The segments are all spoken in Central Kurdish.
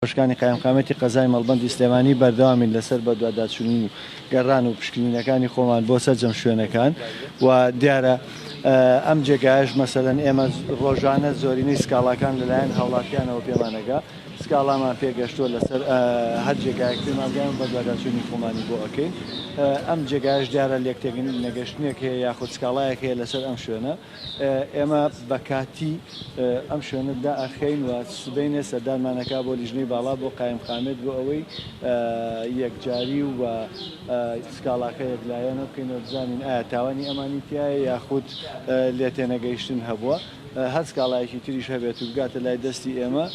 شکانی قایمقامیەتی قەزای مەڵبەندی سلێمانی بەردەوامین لەسەر بەدواداچونی و گەڕان و پشکنینەکانی خۆمان بۆ سەرجەم شوێنەکان و دیارە ئەم جێگایەش مەسەلەن ئێمە ڕۆژانە زۆرینەی سکاڵاکان لەلایەن هاوڵاتیانەوە پێمانەگا سکاڵامان پێگەشتووە لەسەر هەر جێگایەک پێمانگەیان بەدواداچونی خۆمانی بۆ ئەکەین ئەم جێگایش دیارە لێکتێک نەگەشتنێک هەیە یاخود سکاڵایەک هەیە لەسەر ئەم شوێنە ئێمە بە کاتی ئەم شوێنە دائەخەین و سبەینێ سەردانمان ئەکا بۆ لیژنەی باڵا بۆ قایمقامیەت بۆ ئەوەی یەکجاری و سکاڵاکە یەکلایەنە بکەینەوە بزانین ئایا تاوانی ئەمانی تیایە یاخود لێتێنەگەیشتن هەبووە هەر سکاڵایەکی تریش هەبێت و بگاتە لای دەستی ئێمە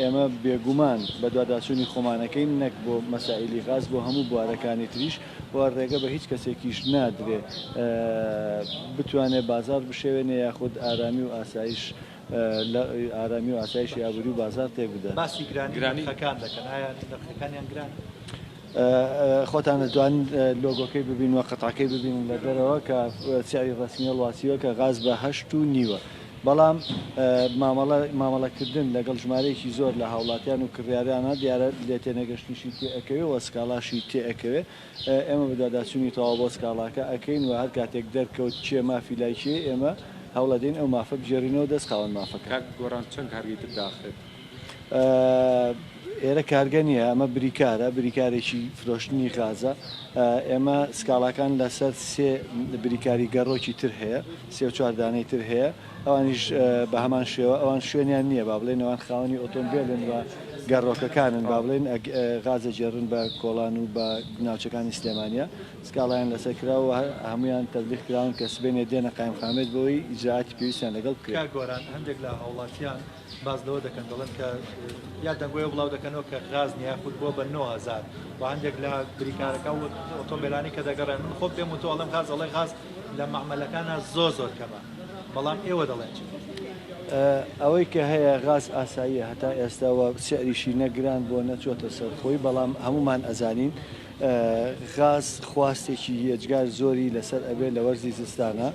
ئێمە بێگومان بەدواداچوونی خۆمانەکەین نەک بۆ مەسائیلی غاز بۆ هەموو بوارەکانی تریش و رێگە بە هیچ کەسێکیش نادرێ بتوانێ بازاڕ بشێوێنێ یاخود ئارامی و ئاسایش ئارامی و ئاسایشی ئابووری و بازاڕ تێک بدات. باسی گرانی نرخەکان دەکەن، ئایا نرخەکانیان گرانە؟ خۆتان دەتوانن لۆگۆکەی ببینن و قەتعەکەی ببینن لە دەرەوە کە سعری رەسمی هەڵواسیوە کە غاز بە هەشت و نیوە بەڵام مامەڵە مامەڵەکردن لەگەڵ ژمارەیەکی زۆر لە هاوڵاتیان و کڕیارانە دیارە لێتێنەگەشتنیشی تێئەکەوێ و سکاڵاشی تێئەکەوێ ئێمە بەدواداچونی تەواو بۆ سکاڵاکە ئەکەین و هەرکاتێک دەرکەوت کێ مافی لای کێی ئێمە هەوڵەدەین ئەو مافە بگێرینەوە دەست خاوەن مافەکە. کاک گۆران چەند کارگەی تر داخرێت؟ ئێرە کارگە نییە، ئەمە بریکارە، بریکارێکی فرۆشتنی غازە. ئێمە سکاڵاکان لەسەر سێ بریکاری گەڕۆکی تر هەیە، سێ و چوار دانەی تر هەیە، ئەوانیش بە هەمان شێوە، ئەوان شوێنیان نییە با بڵێین، ئەوان خاوەنی ئۆتۆمبێلن و گەڕۆکەکانن با بڵێین، غاز ئەگێڕن بە کۆڵان و بە ناوچەکانی سلێمانییە. سکاڵایان لەسەر کراوە و هەموویان تەبلیغ کراون کە سبەینێ دێنە قایمقامیەت بۆ ئەوەی ئیجرائاتی پێویستیان لەگەڵ بکرێت. باس لەوە دەکەن دەڵێن کە یا دەنگۆیە بڵاو دەکەنەوە کە غاز نیە خود بووە بە 9000 و هەندێک لە بریکارەکە و ئۆتۆمبیلانی کە دەگەڕێن من خۆ پێم و تۆ ئەڵم غاز ئەڵێ غاز لە معمەلەکانە زۆ زۆر کەمە بەڵام ئێوە دەڵێن چی ئەوەی کە هەیە غاز ئاساییە هەتا ئێستاوە سعریشی نەگران بۆ نەچۆتە سەر خۆی بەڵام هەمومان ئەزانین غاز خواستێکی یەجگار زۆری لەسەر ئەبێ لە وەرزی زستانا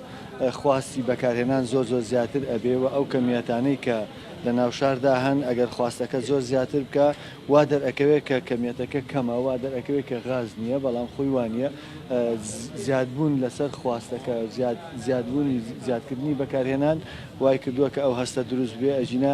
خواستی بەکارهێنان زۆر زۆر زیاتر ئەبێ و ئەو کەمیەتانەی کە لە ناوشاردا هەن ئەگەر خواستەکە زۆر زیاتر بکە وا دەرئەکەوێت کە کەمیەتەکە کەمە وا دەرئەکەوێت کە غاز نییە بەڵام خۆی وانە زیادبوون لەسەر خواستەکە زیادبوونی زیادکردنی بەکارهێنان وای کردووە کە ئەو هەستە دروست بێ ئەژینە